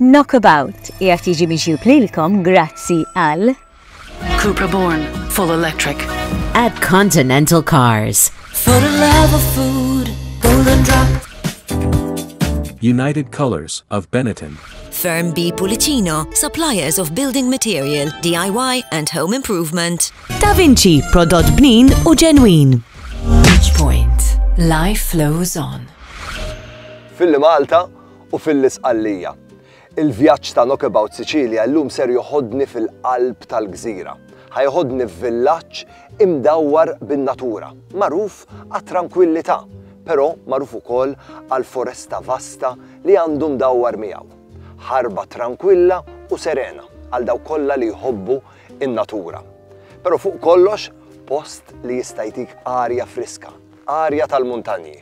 Knockabout qiegħed jiġi miġjub lilkom grazzi għal Cupra Born, full electric. At Continental Cars. For the love of food, golden drop. United Colors of Benetton. Firm B Pulicino, suppliers of building material, DIY and home improvement. Da Vinci, prodott bnin u ġenwin. Point. Life flows on. Fil-Malta, u fil-Isqallija. Il-vjaġġ ta' Knockabout Sicilia llum ser joħodni fil-qalb tal-gżira. Ħa joħodni f'villaġġ imdawwar bin-natura, magħruf għat-trankwillità, però magħruf ukoll għall-foresta vasta li għandu mdawwar miegħu. Ħarba trankwilla u serena għal dawk kollha li jħobbu n-natura. Però fuq kollox, post li jista' jtik arja friska, arja tal-muntanji.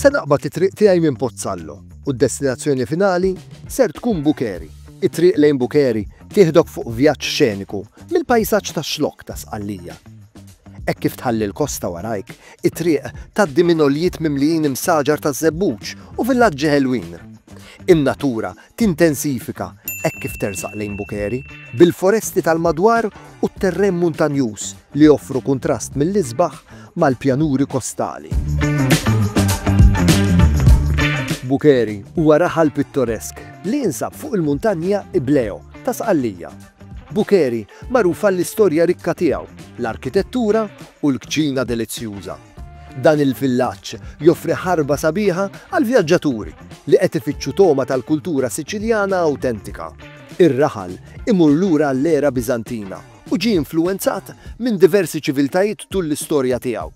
Se naqbad it-triq tiegħi minn Pozzallo u d-destinazzjoni finali ser tkun Bukeri. It-triq lejn Bukeri tieħdok fuq vjaġġ xeniku mill-pajsaġġ tax-Xlokk ta' Sqallija. Hekk kif tħalli l-kosta warajk, it-triq tgħaddi minn għoljiet mimlijin imsaġar taż-żebbuġ u villaġġi ħelwin. In-natura Tintensifika, hekk kif tersaq lejn Bukeri, bil-foresti tal-madwar u t-terren muntanjuż li joffru kuntrast mill-isbaħ mal-pjanuri kostali. Bukeri huwa raħal pittoresk li jinsab fuq il-muntanja Ibleo ta' Sqallija. Bukeri magħruf għall-istorja rikka tiegħu, l-arkitettura u l-kċina delizzjuża. Dan il-villaġġ joffri ħarba sabiħa għall-vjaġġaturi li qed ifittxu togħma tal-kultura Siċiljana awtentika. Ir-raħal imur lura għall-era Biżantina u ġie influwenzat minn diversi ċiviltajiet tul l-istorja tiegħu.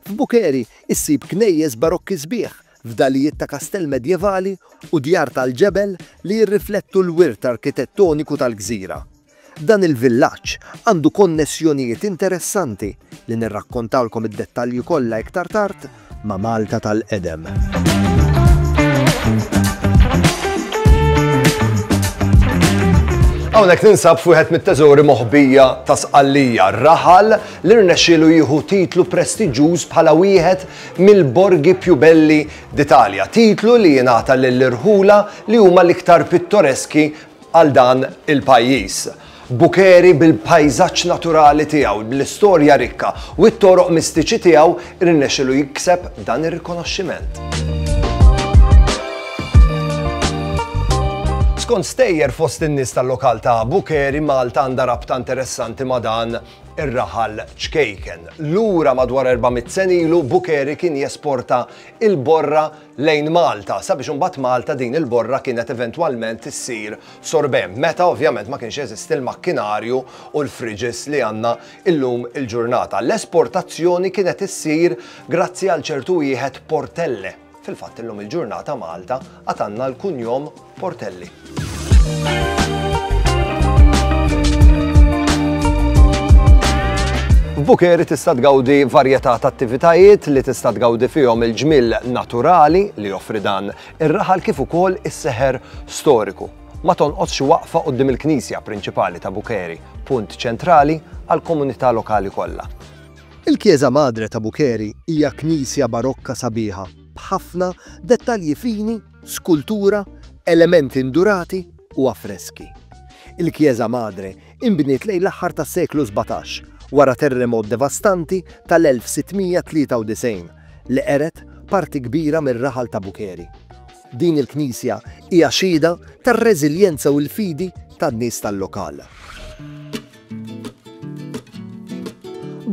F'Bukheri ssib knejjes Barokki sbieħ, fdalijiet ta' kastell medjevali u djar tal-ġebel li jirriflettu l-wirt arkitettoniku tal-gżira. Dan il-villaġġ għandu konnessjonijiet interessanti, li nirrakkontalkom id-dettalji kollha iktar tard, ma' Malta tal-qedem. Hawnhekk ninsab f'wieħed mit-teżori moħbija ta' Sqallija, raħal li rnexxielu jieħu titlu prestiġjuż bħala wieħed mill-borgi più belli d'Italja, titlu li jingħata lill-irħula li huma l-iktar pittoreski għal dan il-pajjiż. Bukeri bil-pajżaġġ naturali tiegħu, bl-istorja rikka u t-toroq mistiċi tiegħu rnexxielu jikseb dan ir-rikonoxximent. Skont stejjer fost in-nies tal-lokal ta' Bukeri, Malta għandha rabta interessanti ma' dan ir-raħal ċkejken. Lura madwar 400 sena ilu Bukeri kien jesporta il-borra lejn Malta, sabiex imbagħad Malta din il-borra kienet eventwalment issir sorbent, meta ovvjament ma kienx jeżisti l-makkinarju u l-fridges li għandna llum il-ġurnata. L-esportazzjoni kienet issir grazzi għal ċertu wieħed Portelle. Fil-fatt illum il-ġurnata Malta għad għandna l-kunjom Portelli. F'Bukeri tista' tgawdi varjetà ta' attivitajiet li tista' tgawdi fihom il-ġmiel naturali li joffri dan ir-raħal kif ukoll is-seħer storiku. Ma tonqodx waqfa qudiem il-knisja prinċipali ta' Bukeri, punt ċentrali għall-komunità lokali kollha. Il-Chiesa Madre ta' Bukeri hija knisja barokka sabiħa b'ħafna dettalji fini skultura, elementi ndurati u affreski. Il-Chiesa Madre inbniet lejn l-aħħar tas-seklu sbatax wara terremot devastanti tal-1693 li qered parti kbira mir-raħal ta' Bucheri. Din il-knisja hija xhieda tar-reżiljenza u l-fidi tan-nies tal-lokal.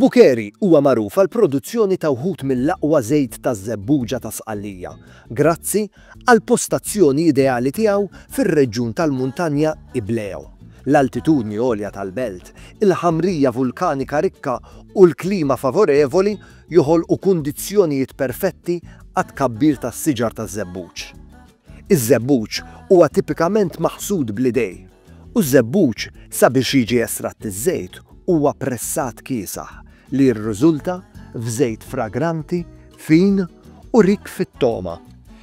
Bucheri huwa magħruf għall-produzzjoni ta' wħud mill-aqwa żejt taż-żebbuġa ta' Sqallija, grazzi għall-postazzjoni ideali tiegħu fir-reġjun tal-muntanja Ibleo, l-altitudni għolja tal-belt, il-ħamrija vulkanika rikka u l-klima favorevoli joħolqu kundizzjonijiet perfetti għat-tkabbir tas-siġar taż-żebbuġ. Iż-żebbuġ huwa tipikament maħsud bl-idej. U ż-żebbuġ, sabiex jiġi estratt iż-żejt, huwa pressat kiesaħ li jirriżulta f'żejt fragranti, fin u rikk fit-togħma.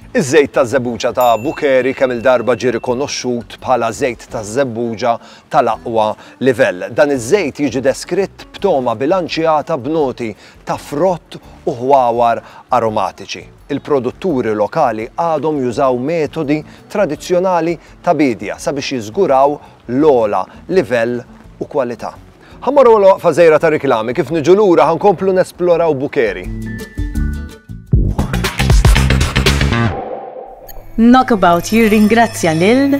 Iż-żejt taż-żebbuġa ta' Bukheri kemm-il darba ġie rikonoxxut bħala żejt taż-żebbuġa tal-aqwa livell. Dan iż-żejt jiġi deskritt b'togħma bilanċjata b'noti ta' frott u ħwawar aromatiċi. il-produtturi lokali għadhom jużaw metodi tradizzjonali ta' biedja sabiex jiżguraw l-ogħla livell u kwalità. Ħa mmorru għal waqfa żgħira ta' riklami, kif niġu lura ħa nkomplu nesploraw Bukeri. Knockabout jirringrazzja lil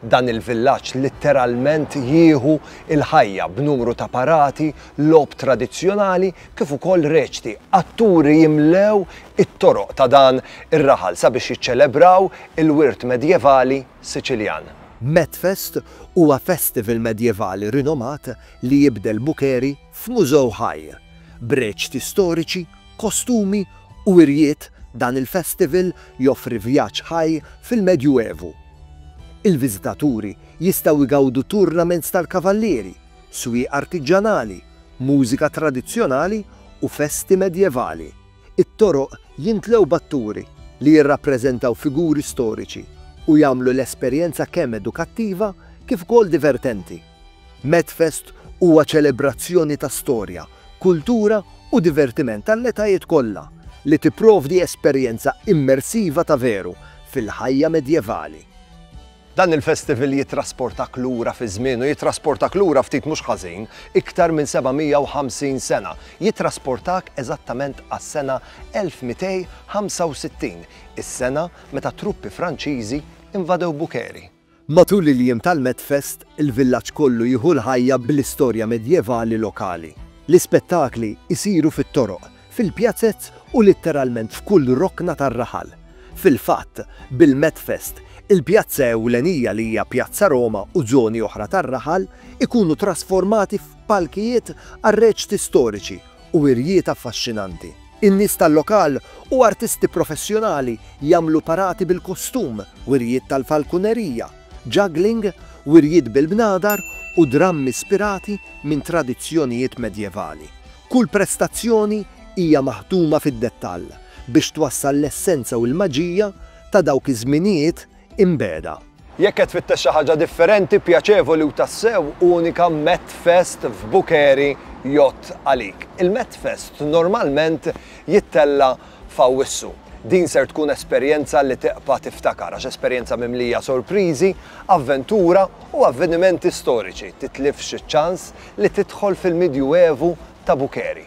Dan il-villaġġ litteralment jieħu l-ħajja b'numru ta' parati, logħob tradizzjonali kif ukoll reċti. Atturi jimlew it-toroq ta' dan ir-raħal sabiex jiċċelebraw il-wirt medjevali Siċiljan. Medfest huwa festival medjevali rinomat li jibdel Bukheri, F'mużew ħaj, b'reċti storiċi, kostumi u wirjiet dan il-festival joffri vjaġġ ħaj fil-Medju Evu. Il-viżitaturi jistgħu jgawdu tournaments tal-kavallieri, swieq artiġġanali, mużika tradizzjonali u festi medjevali. It-toroq jintlew b'atturi li jirrappreżentaw figuri storiċi u jagħmlu l-esperjenza kemm edukattiva kif ukoll divertenti. Medfest huwa ċelebrazzjoni ta' storja, kultura u divertiment għall-etajiet kollha, li tipprovdi esperjenza immersiva ta' veru fil-ħajja medjevali. Dan il-festival jittrasportak lura fiż-żmien u jittrasportak lura ftit mhux ħażin, iktar minn 750 sena. Jittrasportak eżattament għas-sena 1265, is-sena meta t-truppi Franċiżi invadew Bukheri. Matul il-jiem tal-Medfest, il-villaġġ kollu jieħu l-ħajja bl-istorja medjevali lokali. L-ispettakli jsiru fit-toroq, fil-pjazez u litteralment f'kull rokna tar-raħal. Fil-fatt, bil-Medfest, il-pjazza ewlenija li hija Pjazza Roma u żoni oħra tar-raħal ikunu trasformati f'palkijiet għar-reċti storiċi u wirjiet affaxxinanti. In-nies tal-lokal u artisti professjonali jagħmlu parati bil-kostum, wirjiet tal-falkunerija, juggling, wirjiet bil-bnadar u drammi spirati minn tradizzjonijiet medjevali. Kull prestazzjoni hija maħduma fid-dettall biex twassal l-essenza u l-maġija ta' dawk iż-żminijiet imbegħda. Jekk qed tfittex xi ħaġa differenti, pjaċevoli u tassew unika, Metfest f'Bukeri jgħodd għalik. Il-Metfest normalment jittella' f'Awwissu. Din ser tkun esperjenza li tibqa' tiftakar għax esperjenza mimlija sorpriżi, avventura u avvenimenti storiċi, titlifx iċ-ċans li tidħol fil-Midjuevu ta' Bukeri.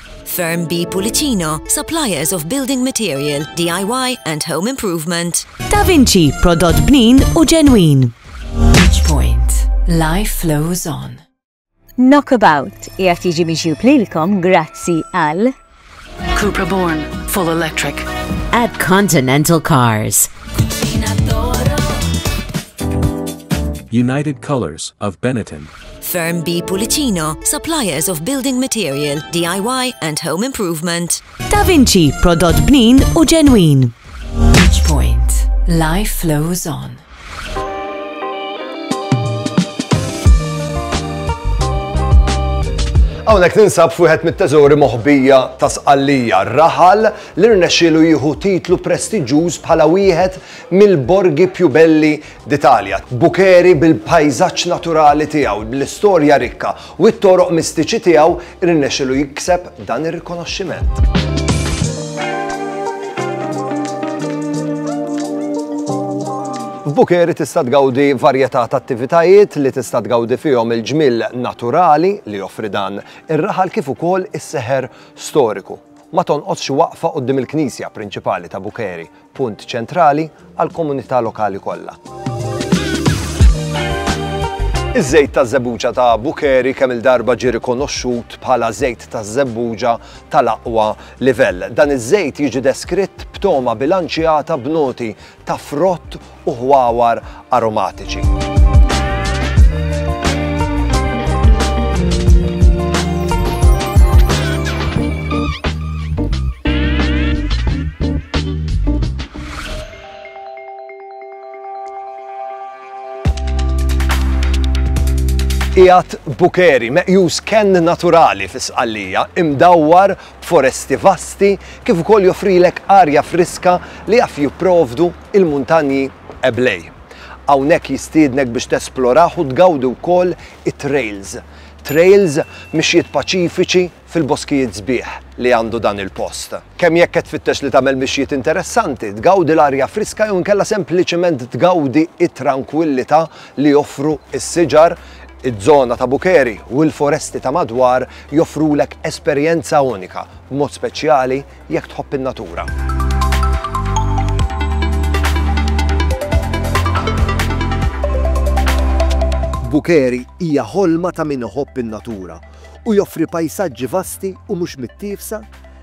Firm B Pulicino, suppliers of building material, DIY and home improvement. Da Vinci, prodott bnin u ġenwin. Each point, life flows on. Knockabout jgħat jiġi miġjub lilkom grazzi għal Cupra Born, full electric. At Continental Cars. United Colors of Benetton. Firm B Pulicino, suppliers of building material, DIY and home improvement. Da Vinci, prodott bnin u ġenwin. Each point, life flows on. Hawnhekk ninsab fuħet mit-teżori moħbija ta' sqallija raħal li rnexxielu jieħu titlu prestiġjuż bħala wieħed mill-borgi più belli d'Italia, Bukheri bil-pajżaġġ naturali tiegħu, bl-istorja rikka u t-toroq mistiċi tiegħu rnexxielu jikseb dan ir-rikonoxximent. F'Bukheri tista' tgawdi varjetà ta' attivitajiet li tista' tgawdi fihom il-ġmiel naturali li joffri dan ir-raħal kif ukoll is-seħer storiku. Ma tonqosx waqfa quddiem il-knisja prinċipali ta' Bukheri, punt ċentrali għall-komunità lokali kollha. Iż-żejt ta' żebbuġa ta' Bukeri kemm il-darba ġie rikonoxxut bħala żejt ta' żebbuġa tal-aqwa livell. Dan iż-żejt jiġi deskritt b'togħma bilanċjata b'noti ta' frott u ħwawar aromatiċi. qiegħed bukeri meqjus kenn naturali fis-Sqallija imdawwar b'foresti vasti kif ukoll joffrilek arja friska li jaf jipprovdu Il-Muntanji Eblej. Hawnhekk jistiednek biex tesplorah u tgawdi wkoll it-trails. Trails, mixjiet paċifiċi fil-boskijiet sbieħ li għandu dan il-post. Kemm jekk qed tfittex li tagħmel mixjiet interessanti, tgawdi l-arja friska jew inkella sempliċement tgawdi t-trankwillità li joffru s-siġar, iż-żona ta' Bukeri u l-foresti ta' madwar joffrulek esperjenza unika, b'mod speċjali jekk tħobb in-natura. Bukheri hija ħolma ta' min iħobb in-natura u joffri pajsaġġi vasti u mhux mittiefsa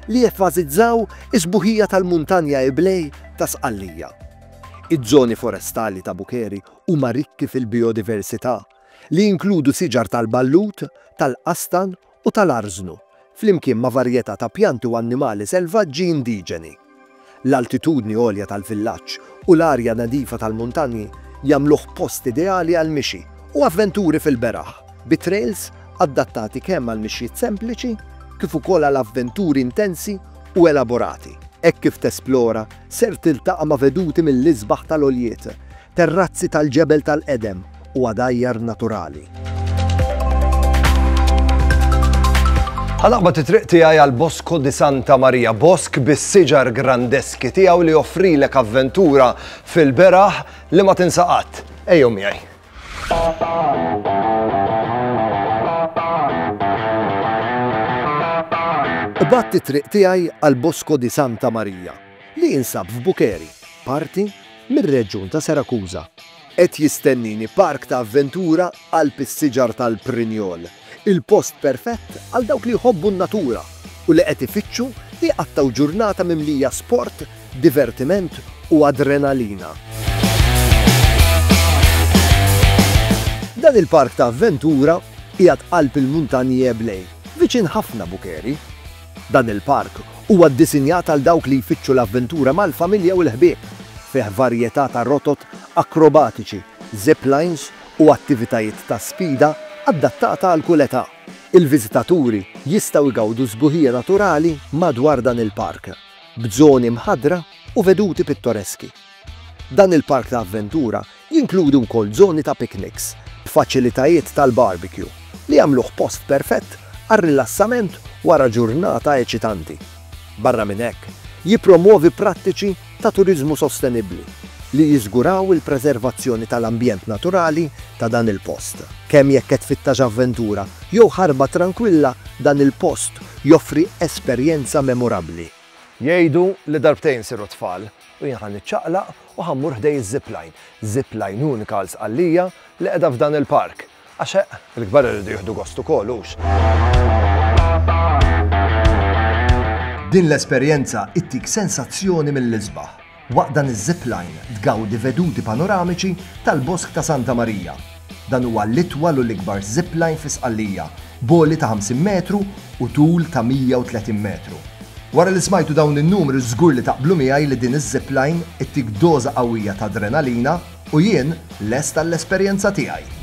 li jeffażizzaw is-sbuħija tal-Muntanja Iblej ta' Sqallija. Iż-żoni forestali ta' Bukheri huma rikki fil-bijodiversità li jinkludu siġar tal-ballut, tal-qastan u tal-arżnu, flimkien ma' varjetà ta' pjanti u annimali selvaġġi indiġeni. L-altitudni għolja tal-villaġġ u l-arja nadifa tal-muntanji jagħmluh post ideali għall-mixi u avventuri fil-beraħ, bi trejls adattati kemm għal mixjiet sempliċi kif ukoll għal avventuri intensi u elaborati. Hekk kif tesplora, ser tiltaqa' ma' veduti mill-isbaħ tal-għoljiet, terrazzi tal-ġebel tal-qedem u għadajjar naturali. Ħa naqbad it-triq tiegħi għal Bosco di Santa Maria, bosk bis-siġar grandeski tiegħu li joffrilek avventura fil-beraħ li ma tinsaqat. Ejjew miegħi. Qbadt it-triq tiegħi għal Bosco di Santa Maria li jinsab f'Bukeri, parti mir-reġjun ta' Serakuża. Qed jistennini park ta' avventura qalb is-siġar tal-Prinjol, il-post perfett għal dawk li jħobbu n-natura u li qed ifittxu jqattgħu ġurnata mimlija sport, divertiment u adrenalina. Dan il-park ta' avventura qiegħed qalb il-Muntanji Eblej, viċin ħafna Bukerie. Dan il-park huwa ddisinjat għal dawk li jfittxu l-avventura mal-familja u l-ħbieb. Fih varjetà ta' rotot akrobatiċi, zip lines u attivitajiet ta' sfida adattata għal kull età. Il-viżitaturi jistgħu jgawdu sbuħija naturali madwar dan il-park, b'żoni mħaddra u veduti pittoreski. Dan il-park ta' avventura Jinkludi wkoll żoni ta' pikniks b'faċilitajiet tal-barbecue li jagħmluh post perfett għar-rilassament wara ġurnata eċitanti. Barra minn hekk, jippromwovi prattiċi ta' turiżmu sostenibbli li jiżguraw il-preservazzjoni tal-ambjent naturali ta' dan il-post. Kemm jekk qed tfittax avventura jew ħarba trankwilla, dan il-post joffri esperjenza memorabbli. Jgħidu li darbtejn isiru tfal. U jien ħa niċċaqlaq u ħa mmur ħdej iz-zipline. Zipline unika għal Sqallija li qiegħda f'dan il-park. Għax eħ, il-kbar iridu jieħdu gost ukoll, hux? Din l-esperjenza ittik sensazzjoni mill-isbaħ. Waqt dan iz-zipline tgawdi veduti panoramiċi tal-Bosk ta' Santa Marija, Dan huwa l-itwal u l-ikbar zipline fi Sqallija, b'għoli ta' 50 metru u tul ta' 130 metru. Wara li smajtu dawn in-numri żgur li taqblu miegħi li din iż-zipline ittik doża qawwija ta' adrenalina u jien lest għall-esperjenza tiegħi.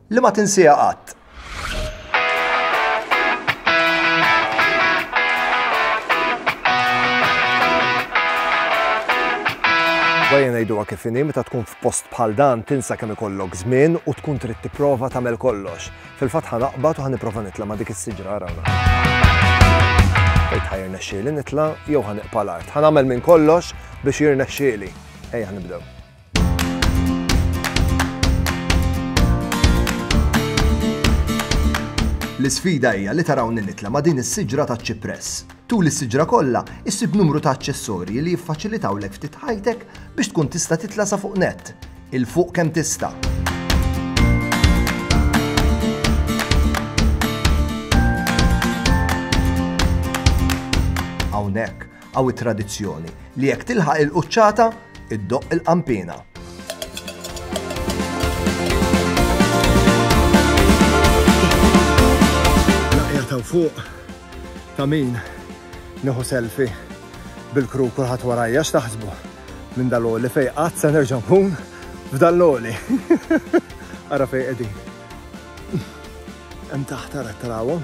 li ma tinsieha qatt. Bajja ngħiduha kif inhi meta tkun f'post bħal dan tinsa kemm ikollok żmien u tkun trid tipprova tagħmel kollox. Fil-fatt ħa naqbad u ħa nipprova nitla' ma' dik is-siġra rawna. Ejt ħa jirnexxieli nitla' jew ħa niqpa' l-art. Ħa nagħmel minn kollox biex jirnexxieli. Ejja nibdew. L-isfida hija li tarawni nitla ma' din is-siġra ta' ċipress. Tul is-siġra kollha, issib numru ta' aċċessorji li jiffaċilitaw lek ftit ħajtek biex tkun tista' titla' sa fuq net. Il-fuq kemm tista'. Hawnhekk, Hawn it-tradizzjoni li jekk tilħaq il-quċċata, iddoqq il-qanpiena. Naqja ta' fuq ta' min nieħu selfie bil-kru kulħadd warajja x'taħsbu minn dal-oli fej qatt se nerġa' nkun f'dal-oli. Ara fej qegħdin. Hemm taħt ara tarawhom.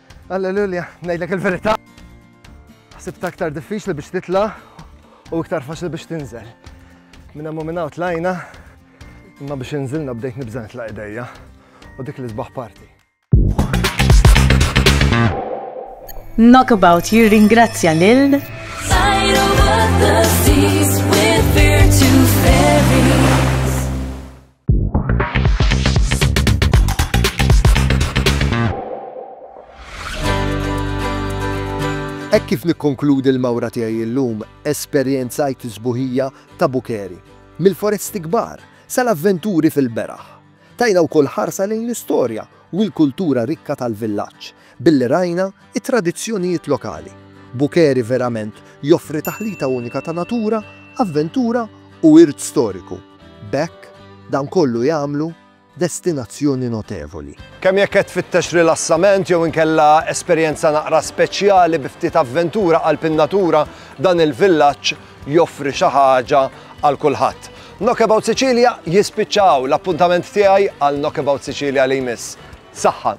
Alleluja, ngħidlek il-verità. Ħsibt aktar diffiċli biex titla' u iktar faċli biex tinżel. Minn hemm u minn hawn tlajna, imma biex inżilna bdejt nibża' nitla' idejja u dik li sbaħ parti. Knockabout jirringrazzja lil Hekk kif nikkonkludi l-mawra tiegħi llum, esperjenzajt is-sbuħija ta' Bukeri, mill-foresti kbar sal-avventuri fil-beraħ. Tajna wkoll ħarsa lejn l-istorja u l-kultura rikka tal-villaġġ, billi rajna t-tradizzjonijiet lokali. Bukeri verament joffri taħlita unika ta' natura, avventura u wirt storiku. B'hekk, dan kollu jagħmlu destinazzjoni notevoli. Kemm jekk qed tfittex rilassament jew inkella esperjenza naqra speċjali bi ftit avventura qalb in-natura, dan il-villaġġ joffri xi ħaġa għal kulħadd. Knockabout Sicilia jispiċċa hawn, l-appuntament tiegħi għal Knockabout Sicilia li jmiss. Saħħa!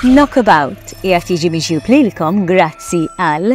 Knockabout qiegħed jiġi miġjub lilkom grazzi għal